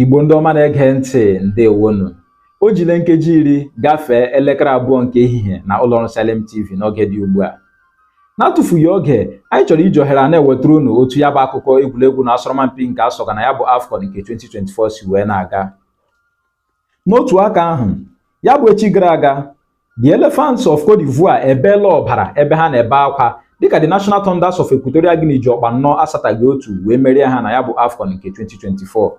Igbo ndị ọma na-ege ntị ndewonu o jile nkeji iri gafee elekere abụọ nke ehihie na ụlọọrụ Salem TV n'oge dị ugbu a n'atụfughị oge anyị chọrọ iji ohere a na-ewetara unu otu ya bụ akụkọ egwuregwu na asọrọmpi nke asọga na ya bụ AFCON nke 2024 si wee na-aga n'otu aka ahụ ya bụ echi gara aga The Elephants of Cote d'Ivoire ebeela ọbara ebe ha na-ebe akwa dịka the National Thunders of Equatorial Guinea ji ọkpụ anọ asataghị otu wee merie ha na ya bụ AFCON nke 2024.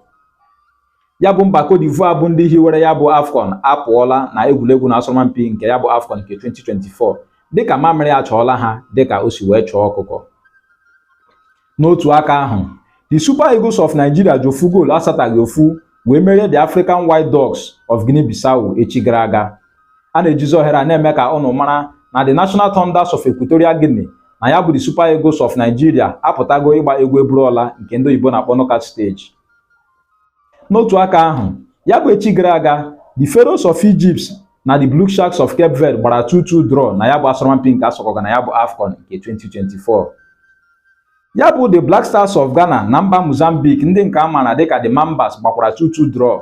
Ya bụ mba Cote d'Ivoire bụ ndị hiwere ya bụ AFCON apụọla na egwuregwu na asọrọmpi nke ya bụ AFCON nke 2024 dịka mamịrị achọọla ha dịka o si wee chọọ ọkụkọ. N'otu aka ahụ, the Super Eagles of Nigeria ji ofu goolu asataghị ofu wee merie the African White Dogs of Guinea-Bissau echi gara aga. A na-ejizi ohere a na-eme ka unu mara na the National Thunders of Equatorial Guinea na ya bụ the Super Eagles of Nigeria apụtago ịgba egwu eburuọla nke ndị oyibo na-akpọ knockout stage. N'otu aka ahụ, ya bụ echi gara aga, the Pharaohs of Egypt na the Blue Sharks of Cape Verde gbara 2-2 draw na ya bụ asọrọmpi nke asọkọga na ya bụ AFCON nke 2024. Ya bụ the Black Stars of Ghana na mba Mozambique ndị nke a maara dịka the Mambas gbakwara 2-2 draw.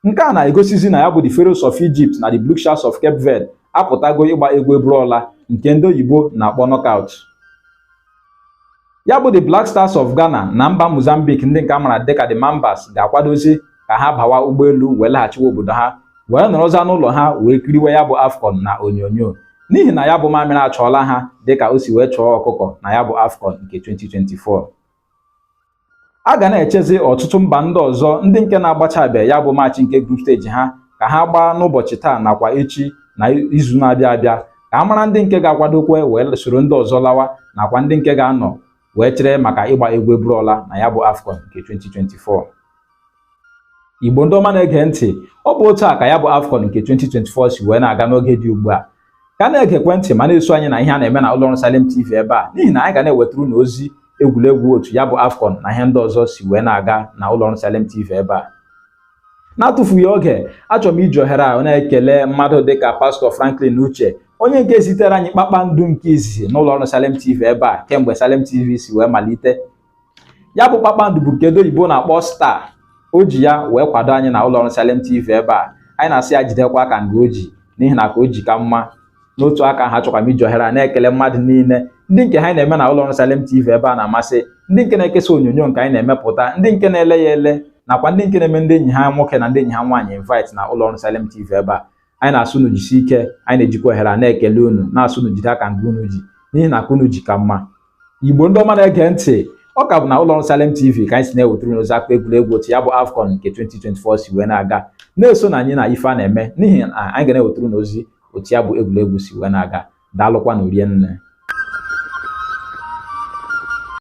Nke a na-egosizi na ya bụ the Pharaohs of Egypt na the Blue Sharks of Cape Verde apụtago ịgba egwu eburuọla nke ndị oyibo na-akpọ knockout. ya bụ the Black Stars of Ghana na mba Mozambique ndị nke a mara dịka the Mambas ga-akwadozi ka ha bawa ụgbọelu wee laghachiwa obodo ha wee nọrọza n'ụlọ ha wee kiriwe ya bụ AFCON na onyonyo n'ihi na ya bụ mamịrị achọọla ha dịka o si wee chọọ ọkụkọ na ya bụ AFCON nke 2024 a ga na-echezi ọtụtụ mba ndị ọzọ ndị nke na-agbachabe ya bụ maachị nke group stage ha ka ha gbaa n'ụbọchị taa nakwa echi na izu na-abịa abịa ka a mara ndị nke ga-akwadokwe wee soro ndị ọzọ lawa nakwa ndị nke ga-anọ wee chere maka ịgba egwu eburuọla na ya bụ AFCON nke 2024 Igbo ndị ọma na-ege ntị ọ bụ otu a ka ya bụ AFCON nke 2024 si wee na-aga n'oge dị ugbu a ka na-egekwe ntị ma na-eso anyị na ihe a na-eme na ụlọ ọrụ Salem TV ebe a n'ihi na anyị ga na-ewetara unu ozi egwuregwu otu ya bụ AFCON na ihe ndị ọzọ si wee na-aga na ụlọ ọrụ Salem TV ebe a n'atụfughị oge achọrọ m iji ohere a na-ekele mmadụ dịka pastọ Franklin Uche onye nke zitere anyị kpakpando nke izizi n'ụlọ ọrụ Salem TV ebe a kemgbe Salem TV si wee malite ya bụ kpakpando bụ nke ndị oyibo na-akpọ star o ji ya wee kwado anyị na ụlọọrụ Salem TV ebe a anyị na-asị ya jidekwa aka nga o ji n'ihi na ka o ji ka mma n'otu aka ahụ achọkwa m iji ohere a na-ekele mmadụ niile ndị nke ihe anyị na-eme na ụlọọrụ Salem TV ebe a na-amasị ndị nke na-ekesa onyonyo nke anyị na-emepụta ndị nke na-ele ya ele nakwa ndị nke na-eme ndị enyi ha nwoke na ndị enyi ha nwaanyị invite na ụlọọrụ Salem TV ebe a anyị na-asị unu jisi ike anyị na-ejikwa ohere a na-ekele unu na-asị unu jide aka nke unu ji n'ihi na aka unu ji ka mma Igbo ndị ọma na-ege ntị ọ ka bụ na ụlọ ọrụ Salem TV ka anyị si na-ewetara unu ozi akpa egwuregwu otu ya bụ AFCON nke 2024 si wee na-aga na-esonụ anyị na ife a na-eme n'ihi na anyị ga na-ewetara unu ozi otu ya bụ egwuregwu si wee na-aga daalụkwanụ rinne